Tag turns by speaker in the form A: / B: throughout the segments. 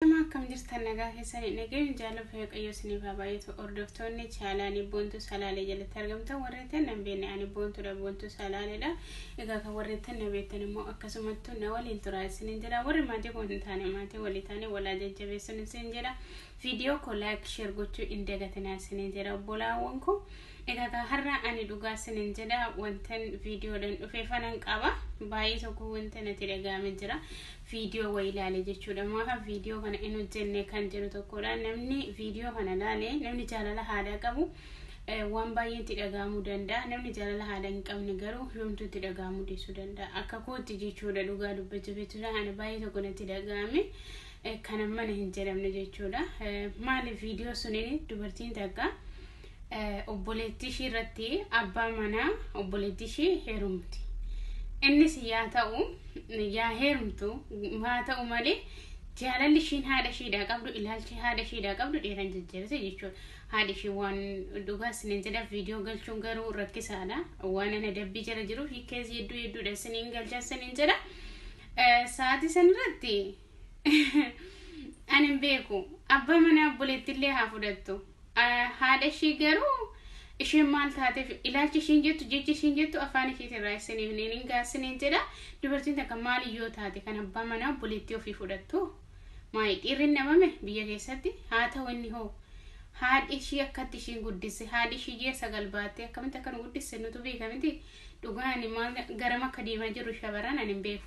A: Nama akkam jirtan nagaa keessanii nageen jaalala waaqayyoo isiniif haa baay'atu hordoftoonni chaalaanii boontuu salaalee jalatti argamtan warreettan nan beekne ani boontuudha boontuu salaaleedha egaa kan warreettan na beektan immoo akkasumattuu na waliin turaa isiniin jedha warri maatii koo hin taane maatii walii taane walaa jajjabeessuun isin jedha viidiyoo koo laayik sheer gochuu hin dagatinaa isiniin jedha obbolaawwan koo egaa kan har'a ani dhugaa isiniin jedha wantan viidiyoodhaan dhufeefanan qaba baay'ee tokko wanta natti dhaga'ame jira viidiyoo wayii laale jechuudha maafa viidiyoo kana hin hojjenne kan jedhu tokkodha namni viidiyoo kana laale namni jaalala haadhaa qabu eh, waan baay'een itti dhaga'amuu danda'a namni jaalala haadhaa hin qabne garuu yoomtuu itti dhaga'amuu dhiisuu danda'a akka kootti jechuudha dhugaa dubbachuuf jechuudha ana baay'ee tokko natti dhaga'ame eh, kana mana hin jedhamne jechuudha Eh, maaliif viidiyoo suniin dubartiin takka obboleettii ishii irratti abbaa manaa obboleettii ishii heerumti. Innis yaa ta'u yaa heerumtu haa ta'u malee jaalalli ishiin haadha ishiidhaa qabdu ilaalchi haadha ishiidhaa qabdu dhiira hin jajjabeessa jechuudha. Haadhi ishii waan dhugaa isiniin jedha viidiyoo galchuun garuu rakkisaadha. Waan ana dabbii jala jiruuf hiikkees hedduu hedduudha isiniin galcha isiniin jedha. Eh, Sa'aatii san irratti ani hin beeku abbaa manaa obboleettillee haa fudhattu. Haadha ishii garuu isheen maal taateef ilaalchi ishiin jettu jechi ishiin jettu afaan ishiitiin raayisanii hin hin gaasiniin jedha dubartiin takka maal yoo taate kan abbaa manaa obboleettii ofii fudhattu maayi dhiirri hin dhabame biyya keessatti haa ta'u inni hoo haadhi ishii akkatti ishiin guddisse haadhi ishii ji'a sagal baattee akkamitti akka nu guddisse nutu beekamiti dhugaan maal garam akka deemaa jirru shabaran ani hin beeku.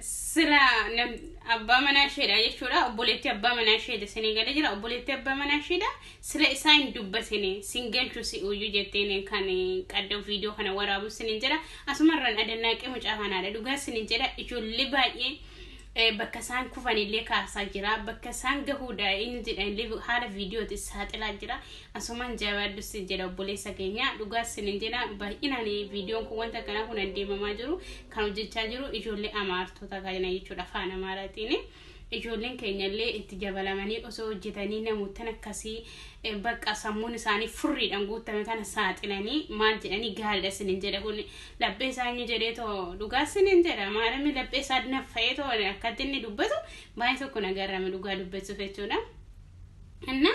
B: sila abbaa manaa isheedha jechuudha obboleetti abbaa manaa isheedha isinii gala jira obboleetti abbaa manaa isheedha sila isaa hin dubbatine sin galchu si uyyu jetteen kan qadda viidiyoo kana waraabu sinin jedha asumarraan adannaaqee mucaa kanaadha dhugaa sinin jedha ijoollee baay'ee bakka isaan kufanillee kaasaa jira bakka isaan gahuudha inni jedhanillee haala viidiyooti saaxilaa jira Asumaan jabaadhu sin jedha obboleessa keenya dhugaa sin hin jedha baay'inaan viidiyoon kun wanta kana kun deemamaa jiru kan hojjechaa jiru ijoollee amaartota kana jechuudha afaan amaaraatiin. Ijoolleen keenya illee itti jabalamanii osoo hojjetanii namoottan akkasii eh, bakka sammuun isaanii furriidhaan guutame kana saaxilanii maal jedhanii gaariidha sin hin jedha kun laphee isaa inni jedhee too dhugaa sin hin jedha maalamni laphee isaa naffa'ee too akkatti inni dubbatu baay'ee tokko nagarrame dhugaa dubbachuuf jechuudha. Anna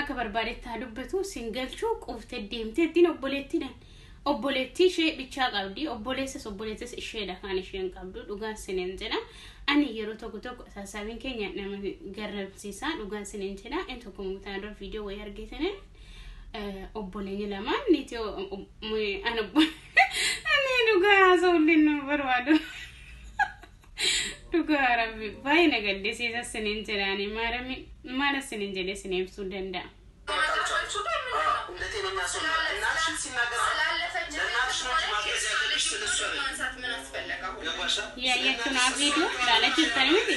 B: akka barbaadetti haa dubbatu sin galchuu quufte deemtee ittiin obboleettiidhaan obboleettii ishee bichaa qabdi obboleessas obboleettis isheedha kan isheen qabdu dhugaan sinin jedha ani yeroo tokko tokko sassaabiin keenya nama garramsiisaa dhugaan sinin jedha in tokko mutaan dura viidiyoo wayii argeetanii obboleeyyi lamaan niitii an obbo ani dhugaa haasa'ullee nama barbaadu. Dhugaa rabbi baay'ee na gaddisiisa sinin jedhaani maarami maala sinin jedhe sin ibsuu danda'a. Yaayattu naa viidiyoo ilaala jirtani miti.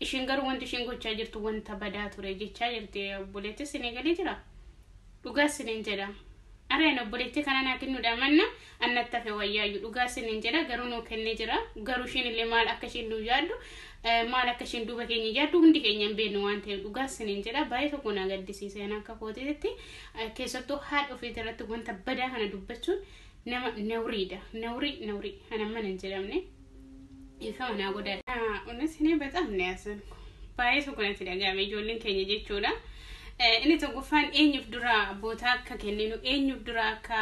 B: Ishiin garuu wanti ishiin gochaa jirtu wanta badaa ture jechaa jirti obboleetti isinii galee jira dhugaa isiniin jedha areen obboleetti kana naa kennuudha manna annatti hafe wayyaayyu dhugaa isiniin jedha garuu nuu kennee jira garuu ishiin illee maal akka ishiin nuu yaaddu eh, maal akka ishiin duuba keenya yaaddu hundi keenya hin beeknu waan ta'eef dhugaa isiniin jedha baay'ee tokko naa gaddisiise ana akka kootiitti eh, keessattuu haadha ofiitii irratti wanta badaa kana dubbachuun nama nawriidha nawrii nawrii ana mana hin jedhamne. Dhiifama naa godhaa. Unis ni bexaam ni yasan baay'ee tokko natti dhaga'ame ijoolleen keenya jechuudha. Inni tokkoffaan eenyuuf dura bootaa akka kenninu eenyuuf dura akka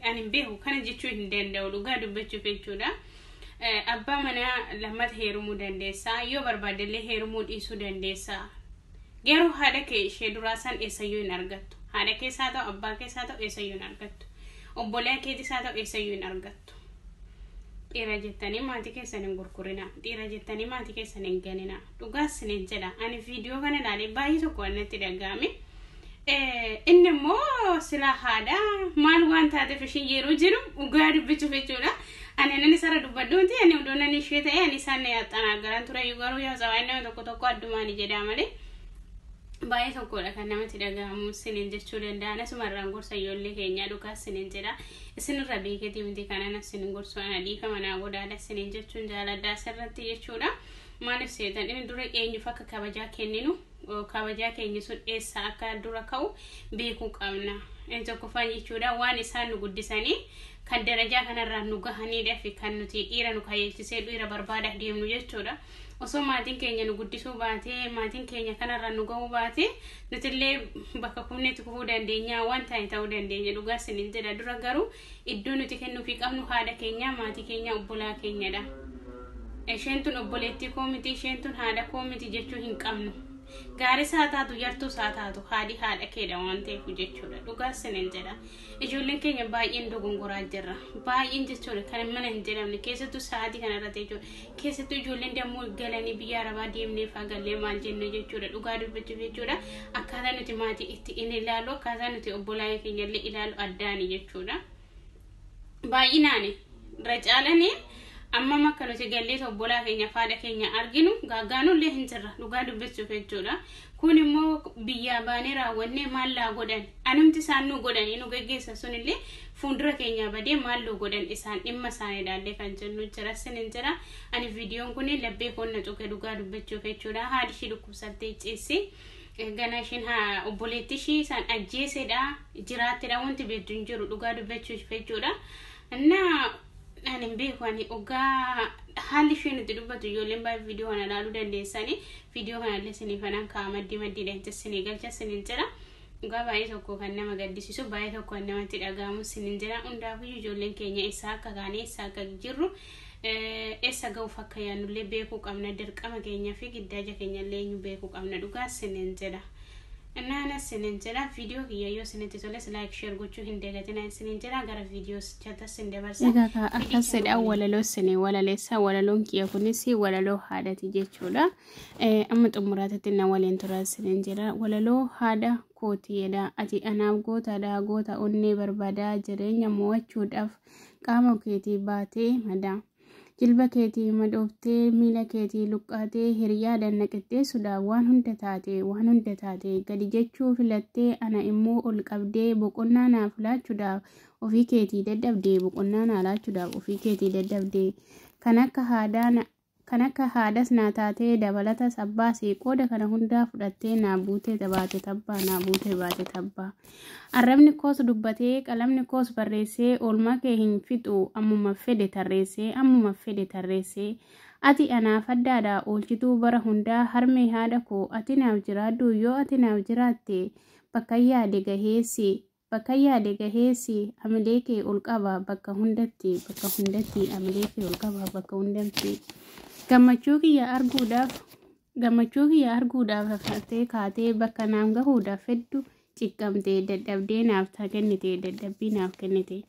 B: ani hin beeku kana jechuu hin danda'u dhugaa dubbachuuf jechuudha. Abbaa manaa lammata heerumuu dandeessa yoo barbaadde illee heerumuu dhiisuu dandeessa. Garuu haadha kee ishee duraa san eessayyuu hin argattu. Haadha keessaa ta'u abbaa keessaa ta'u eessayyuu hin argattu. Obbolee keetis haa ta'u eessayyuu hin argattu. Dhiira jettanii maatii keessan hin gurgurinaa. Dhiira jettanii maatii keessan hin ganinaa. Dhugaa isiniin jedha. Ani viidiyoo kana ilaalee baay'ee tokko waan natti dhaga'ame. Inni immoo sila haadha maal waan taateef ishiin yeroo jiru dhugaa dubbachuuf jechuudha. Ani anan isarra dubbadhuuti ani odoo nan ishee ta'e ani isaan na yaxxanaa garan ture garuu yaa sabaan nama tokko tokko addumaan jedhaa malee. baay'ee tokkodha kan namatti dhaga'amu siniin jechuu danda'an asumarraan gorsa ijoollee keenyaa dhugaa siniin jedha. isinirra beeketi miti kanan isin gorsu ana dhiifama naa godhaadha isiniin jechuun jaaladha asirratti jechuudha maaliif seetan inni dura eenyuuf akka kabajaa kenninu kabajaa keenya sun eessa akka dura ka'u beekuu qabna inni tokkoffaan jechuudha waan isaan nu guddisanii kan darajaa kanarraa nu gahaniidha fi kan nuti dhiira nu kajeelchisee dhiira barbaadaaf deemnu jechuudha osoo maatiin keenya nu guddisuu baatee maatiin keenya kanarra nu ga'uu baatee nutillee bakka kufneetti kufuu dandeenya waan ta'e ta'uu dandeenya dhugaa isiniin jedha dura garuu iddoo nuti kennuufii qabnu haadha keenya maatii keenya obbolaa keenyadha. Isheen tun obboleettii koo miti isheen tun haadha koo miti jechuu hin qabnu. Gaaris haa taatu yartuus haa taatu haadhi haadha keedha waan ta'eef jechuudha dhugaa isiniin jedha Ijoolleen keenya baay'een dogongoraa jirra. Baay'een jechuudha kan mana hin jedhamne keessattuu sa'aatii kana irratti jechuudha. Keessattuu ijoolleen dammoo galanii biyya arabaa deemnee faagallee maal jenna jechuudha dhugaa dubbachuuf jechuudha. Akkaataa nuti maatii itti in ilaalu akkaataa nuti obbolaa keenya illee ilaalu addaani jechuudha. Baay'inaani irra caalanii ammam akka nuti galleet obbolaa keenya faadha keenya arginu gaaggaanuu illee hin jirra dhugaa dubbachuuf jechuudha. Kun immoo biyyaa baanee raawwannee maal laa godhan? Anumti isaan nu godhanii nu geggeessan sun illee fuundura keenyaa badee maal luu godhan isaan dhimma isaanii ilaallee kan jennu jira sinin jira. Ani viidiyoon kun labbee koon na tuqe dhugaa dubbachuuf jechuudha. Haadhi ishii dhukkubsattee ciissi. Ganaa isheen haa- obboleettii ishii isaan ajjeesedha jiraattedha wanti beektu hin jiru dhugaa dubbachuuf jechuudha. Innaa Ani hin beeku ani ogaa haalli isheen itti dubbatu ijoolleen baay'ee viidiyoo kana ilaaluu dandeessanii viidiyoo kana illee isiniif anaan ka'a maddii maddiidhaan jecha isinii galcha isiniin jira. Dhugaa baay'ee tokko kan nama gaddisiisu baay'ee tokko kan namatti dhaga'amu isiniin jira. Hundaafiyyuu ijoolleen keenya eessaa akka kaane eessaa akka jirru eh, eessa ga'uuf akka yaannullee beekuu qabna dirqama keenyaa fi giddaaja keenya illee eenyu beekuu qabna dhugaa isiniin jira. Nana sinin jedha video kiyya yoo sinitti toles like share gochuu hin dagatina sinin jedha gara video chata sin dabarsa Egaa kaa Fidii akkas kana jedha
A: waliin. walaloo sini walaleessa walaloon kiyya kunis walaloo haadhati jechuudha. Eh, Amma xumuraatitti na waliin tura sinin jedha walaloo haadha kootiidha ati anaaf gootaadha goota onnee barbaadaa jireenya mo'achuudhaaf qaama keetii baatee madaa. Jilba keetii madooftee miila keetii luqqaatee hiriyaa dannaqixxeessuudhaaf waan hunda taate waan hunda taate gadi jechuu filattee ana immoo ol qabdee boqonnaa naaf laachuudhaaf ofii keetii dadhabdee boqonnaa naa laachuudhaaf ofii keetii dadhabdee kan akka haadaa na- kan akka haadas naa taatee dabalatas abbaas qooda kana hundaa fudhattee naa buutee baate tabbaa naa buutee baate tabbaa. Arrabni koos dubbatee, qalamni koos barreessee oolmaa kee hin fixu, ammuma fedhe tarreessee, ammuma fedhe tarreessee. Ati anaaf addaadha, oolchituu bara hundaa, harmee haadha koo, ati naaf jiraadhu, yoo ati naaf jiraatte, bakkan yaade gaheessi, bakkan yaade gaheessi, amilee kee ol qaba bakka hundatti, bakka hundatti, amilee kee ol qaba bakka hundatti. Gammachuu kiyya arguudhaaf, Gammachuu kiyya arguudhaaf rafnattee kaatee bakka naaf gahuudhaaf heddu ciqqamte dadhabdee naaf taa kennite dadhabbii naaf kennite.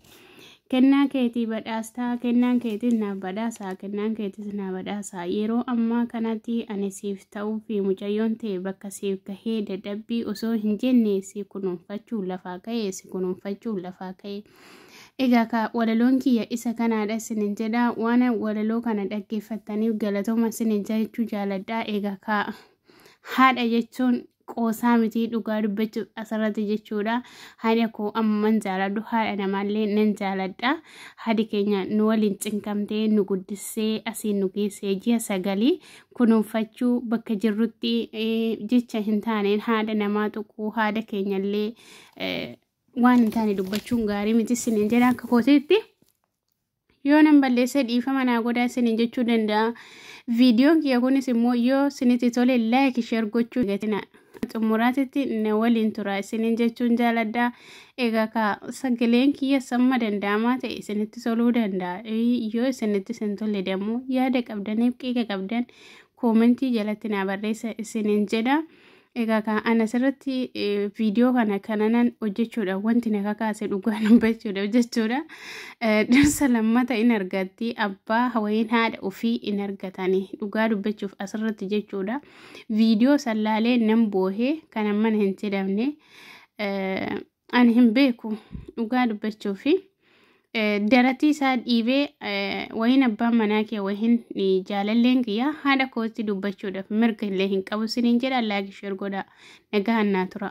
A: Kennaa keetii badhaastaa kennaan keetis naaf badhaasaa kennaan keetis naa badhaasaa yeroo ammaa kanatti ani siif ta'uu fi mucayyoon ta'e bakka siif gahee dadhabbii osoo hin jenne si kunuunfachuu lafaa ka'e si kunuunfachuu lafaa ka'e. Egaa ka walaloon kiyya isa kanaadha isinin jedha waan walaloo kana dhaggeeffattaniif galatooma isinin jechuu jaaladha egaa ka haadha jechuun qoosaa mitii dhugaa dubbachuuf asirratti jechuudha haadha koo amman jaaladhu haadha namaallee nan jaaladha haadhi keenya nu waliin cinqamtee nu guddissee asiin nu geessee ji'a sagalii kunuunfachuu bakka jirrutti eh, jecha hin taaneen haadha namaa tuquu haadha keenyallee eh, waan hin taane dubbachuun gaarii miti isiniin jedha akka kootiitti. Yoo nan balleessee dhiifama naa godhaa isiniin jechuu danda'a. Viidiyoon kiyya kunis immoo yoo isinitti tole laayik sheer gochuu gatina. Xumuraatitti na waliin tura isiniin jechuun jaaladha. Egaa ka sagaleen kiyya samma danda'amaa ta'e isinitti toluu danda'a. Yoo isinitti isin tolle dammoo yaada qabdaniif qiiqa qabdan koomentii jalatti naa barreessa isiniin jedha. Egaa kan ani asirratti eh, viidiyoo kana kananan hojjechuudhaaf wanti na kakaase dhugaa nan bachuudhaaf jechuudha. Eh, Dhirsa lammata in argatti abbaa hawayeen haadha ofii in argatani dhugaa dubbachuuf asirratti jechuudha. Viidiyoo sallaalee nan boohee kan ammana hin jedhamne. eh, Ani hin beeku dhugaa dubbachuu fi daratii isaa dhiibee wayin abbaan manaa kee wayin jaalalleen kiyyaa haadha kootti dubbachuudhaaf mirga illee hin qabu siniin jedha laagi sheer godha nagaan naa tura.